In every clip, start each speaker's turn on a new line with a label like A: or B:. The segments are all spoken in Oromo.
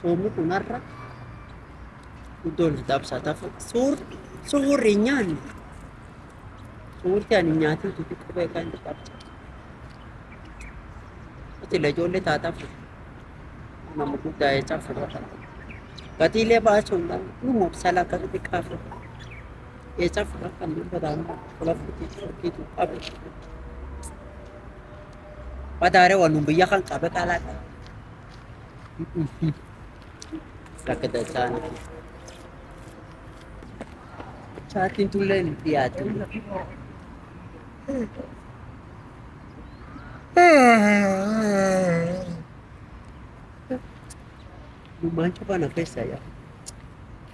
A: Soomni kun har'a iddoo walitti cabsaa tafu suur suurri hin nyaanne suurri ani nyaatin tutu qubee kan itti cabsa. Utile ijoollee taataaf nama guddaa jechaa fudhata. Gatiilee baasuun kan dhuma obsala akka xixiqqaa fudhata. Jechaa fudhata kan dubbataan qola fudhatu fudhatu qabu. Madaare waan biyya kan qabe qalaa qaba. Akka dachaan chaartiin tullee hin dhiyaatu. Lummaan cufana keessa yaa.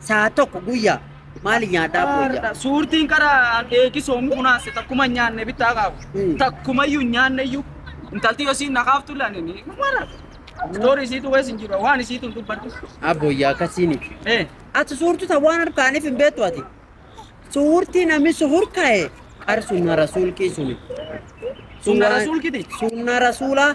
A: Saa tokko guyyaa maali nyaataa booyyaa? Suurtiin qara
B: eegi soomu kunaase takkuma nyaanne bittaa qaabu. Mm. Takkumayyuu nyaanne iyyuu intalti yoo siin naqaaftu laanini. Mara. Story isiitu wees hin jiru waan isiitu hin dubbadhu. Abboyyaa akkasiini.
A: Eh. Ati suurtu ta waan harkaaniif hin beektu ati. Suurtii namni suhur ka'e qar sunna rasuulkii suni. Sunna
B: rasuulkiti? Sunna rasuulaa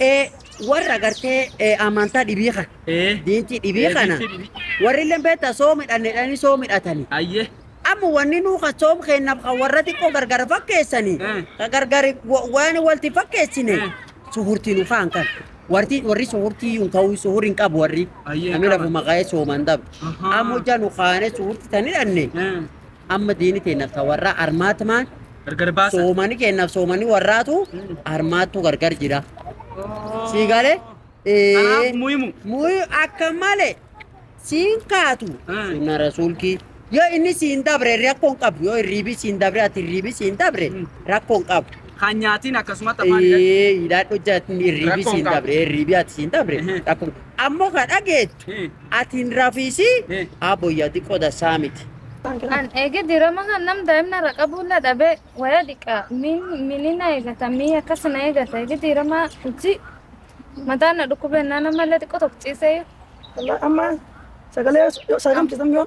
A: ee warra gartee ee amantaa dhibii kana ee diintii dhibii ee, kana diintii dhibii. warri illee beektaa soo midhanneedhanii soo midhatani ayye amma
B: wanni nuu
A: kan soom keennaaf kan warra xiqqoo gargar fakkeessani Eh. kan gargar wa- waan walti fakkeessine Eh. suhurtii nu kaan kan warti warri suhurtii hin ka'u suhur hin qabu warri Ayyee, namni qaban. lafa maqaa'ee sooman dhabu Ahaa. amma hojjaa nu kaanee suhurtii tan hidhanne Eh. Amma diini teennaaf ta warraa armaatmaan Gargar baasa.
B: soomani keennaaf soomani
A: warraatu armaattu gargar jira. Sii galee? Kanaaf
B: muhimu. Muhi akka
A: malee siin kaatu Ah. sunna rasuulkii yoo inni siin dabre rakkoon qabu yoo hirriibii siin dabre ati hirriibii siin dabre Mm. rakkoon qabu. Kan nyaatiin
B: akkasumatti afaan hidhatu. Ee hidhaadhu jaatni
A: hirriibii Rakkoon siin qabu. dabre hirriibii ati siin dabre Ehe. rakkoon ammoo ka dhageettu Eh. Ati hin rafiisi abbo yadi qoda saamiti. An eege
C: dirama kan nam daa'imna irra qabuulla dhabe waya dhiqa min mini na eegata mi akkas na eegata eege dirama hojii mataa na dhukkubennaa namallee xiqqoo tokko ciisee Amma
D: sagalee yoo sagamchisan yoo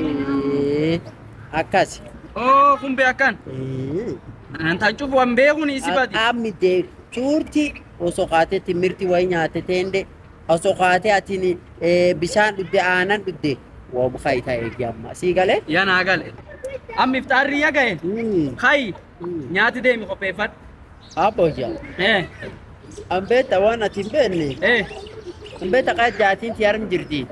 A: Ee, Akkasi. Oo kun bee
B: akkan. Ee. Antaan cufu an beekun isi badi. Qaamni dee
A: cuurti osoo kaatee timirti wayii nyaate teende osoo kaatee atiin ee, bishaan dhugde aanan dhugde waa bukaa itaa eegi amma sii galee. Yaa naa gale.
B: Amma iftaarri yaa gahe. Mm. Kayi Mm. nyaati deemi qopheeffadhu. Aboo jaa.
A: Eh Ambeeta waan ati hin beekne. eh Ambeeta kaa jaatiin ti harmi jirti.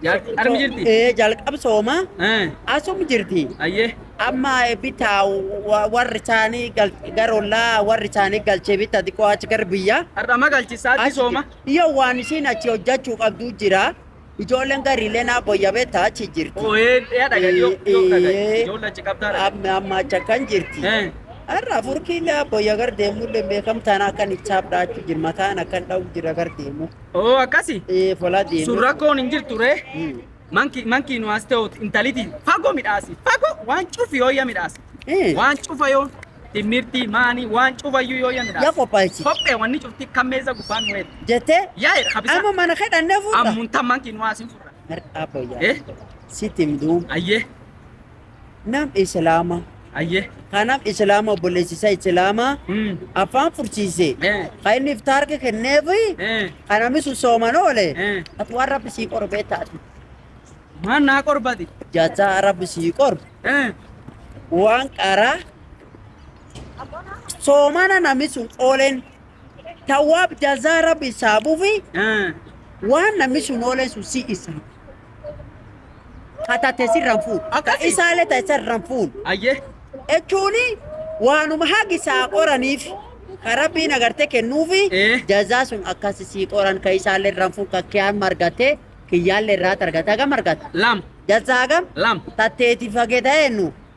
A: Jaartii armi jirti?
B: Ee jalqab
A: sooma Eh, asum
B: jirti.
A: Ayyee. Amma bitaa wa- warri isaanii gal- gara ollaa warri isaanii galchee bitaa xiqqoo achi gara biyyaa. Har'a ma galchisaatti
B: Achi sooma? jirti. Yoo waan isiin
A: achi hojjechuu qabdu jira. Ijoolleen gariilee naa boyya beektaa achi jirti. Oo, ee, ee, dhaga, dhiyoo, dhiyoo
B: dhaga. Ee. Ijoollee achi qabdaa dhaga. Amma amma achi akkan
A: jirti. Eh. Har'a furkiilee boyya gar deemullee beekamtaan akkan isaaf dhaachuu jira mataan akkan dha'u jira gar deemu. Oo akkasi.
B: Ee folaa deemee. Sun
A: rakkoon hin jirtu ree.
B: Hmm. Manki manki nu as ta'u intaliti fago midhaasi. Fago waan cufi yoo ya midhaasi. Eh. Waan cufa yoo timirti maani waan cufa yoo yoo ya Ya midhaasi. qophaa'echi. Kophee wanni
A: cufti kan
B: meeza gubbaan nu eegdu. Jettee Yaa jedha habisa.
A: amma mana
B: kee dhannee fuudha.
A: Ammuntan manki nu as hin
B: furra. Har- Abbo yaa. Eh
A: Sitti himduu. ayyee. nam islaama Ayye.
B: kanam islaama
A: obboleessi isaa islaama Mm. afaan fursiise Eh. kan inni iftaarka kenneef Eh. kan namni sun sooman oole Eh. ati waan rabbi sii qoru beektaa ati Maan
B: naa qorbati. jaataa rabbi
A: sii qoru Eh. waan qaraa soomana namni sun ooleen Tawaab jazaa rabbi isaa bufi waan namni sun oolee sun si isa. Ka tate sirran fuun. Ka Akkasi. isaalee ta'e sirran fuun. Ayyee.
B: Jechuun
A: waanuma hagi isaa qoraniif ka rabbiin agartee kennuufi Eh. jazaa sun akkasi sii qoran ka isaalee irraan fuun ka kiyaan margatee kiyyaallee irraa argata gam argata. Lam. Jazaa
B: gam
A: Lam. tatteeti
B: fageeta
A: eenyu.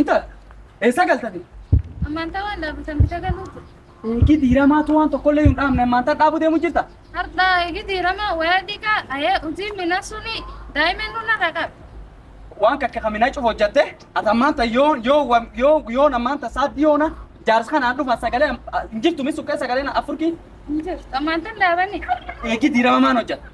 B: Intal, eessa galtani? Ammaantaa waan
C: dhaabatan bita galuu jira. Eegi diiramaa
B: tu waan tokkollee hin dhaabne ammaantaa dhaabuu deemu jirta. Har'a eegi
C: diiramaa wayaa dhiigaa ayee hojii mina suni daa'imman nuna dhaqab. Waan kakka
B: kaminaa cufa hojjatte ati ammaanta yoo yoo wa- yoo yoo ammaanta saaddi yoona jaarsa kanaan dhufan sagalee am- hin jirtu misu kee sagalee na afurki Ammaantaan
C: dhaabani. eegi diirama
B: maan hojjatte.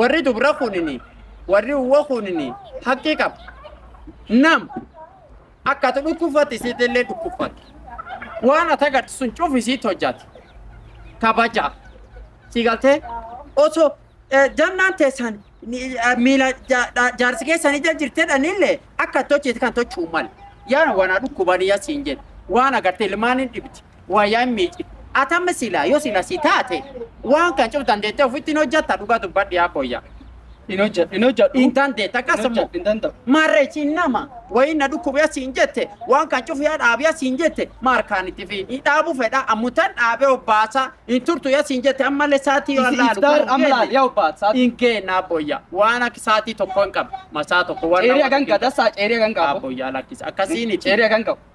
A: warri dubra kunini warri uwa kunini haqqi qaba nam akka ati dhukkubfatte isiitti illee dhukkubfatte waan ati agartu sun cufi isiitti hojjate kabaja si galtee osoo eh, jannaan teessan ni- eh, miila ja- ja- jaarsi keessan ija jirtedhan illee akka ati hojjete kan tochuu male yaa wanaa dhukkubanii asiin jedhe waan agarte ilmaan hin dhibdi Waa yaa hin miicci. Ati amma silaa yoo sila si taate waan kan cuf dandeettee ofitti hin hojjatta dhugaa dubbadhi yaa booyya. Hin hojjedhu. Hin
B: hojjedhu. Hin dandeetta Hin akkasuma.
A: hojjedhu. Hin danda'u. Maarree
B: siin nama
A: wayiin na dhukkubee siin jette waan kan cuf yaa dhaabi yaa siin jette maal kaan itti fi hin dhaabu fedha ammutan dhaabee obbaasa hin turtu yaa siin jette ammallee saatii yoo Is- laalu iftaar garuu amma hin laal, yaa obbaat,
B: saatii. hin geenna abboyya
A: waan akka saatii tokko hin qabu masaa tokko waan Ceerii hagan gada saa ceerii
B: hagan qabu. abboyyaa lakkisa akkasiin
A: Ceerii hagan qabu.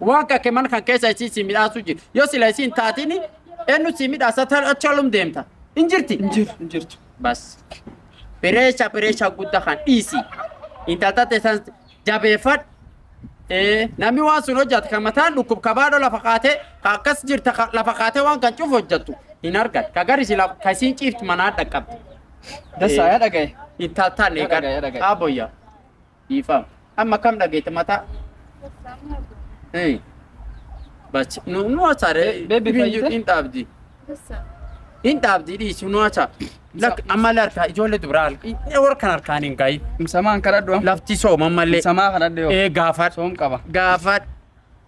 A: Waan kake mana kan keessa isiin si midhaasuu jira. Yoo sila isiin taatiin eenyu si midhaasa achi olum deemta. Hin jirti? Hin jiru. Hin jirtu.
B: Bas.
A: Bireesha bireesha guddaa kan dhiisi. Intalta teessan jabeeffadhu. Eh, namni waan sun hojjate kan mataan dhukkub kabaadho lafa kaatee ka akkas jirta ka lafa kaatee waan kan cufu hojjattu hin argan. Ka gari sila ka isiin ciiftu manaa dhaqqabdi. Dasa ya
B: dhagaye. Intaltaan Dhagaye, eegan
A: dhagaye. qaaboyya. Dhiifama. Amma kam dhageette mataa? Eh. Bachi. Nu nu hacha re. Be- baby Ibin fayyite? hin dhaabdi. Hin dhaabdi dhiisi nu hacha. Lak amma larka ijoollee dubraa harka. Inni warra kan harkaan hin gahi. Ibsamaan kadhadhu amma.
B: Lafti sooma malee.
A: Ibsamaa kadhadhu yoo. Ee
B: gaafadhu. Soom qaba.
A: Gaafadhu.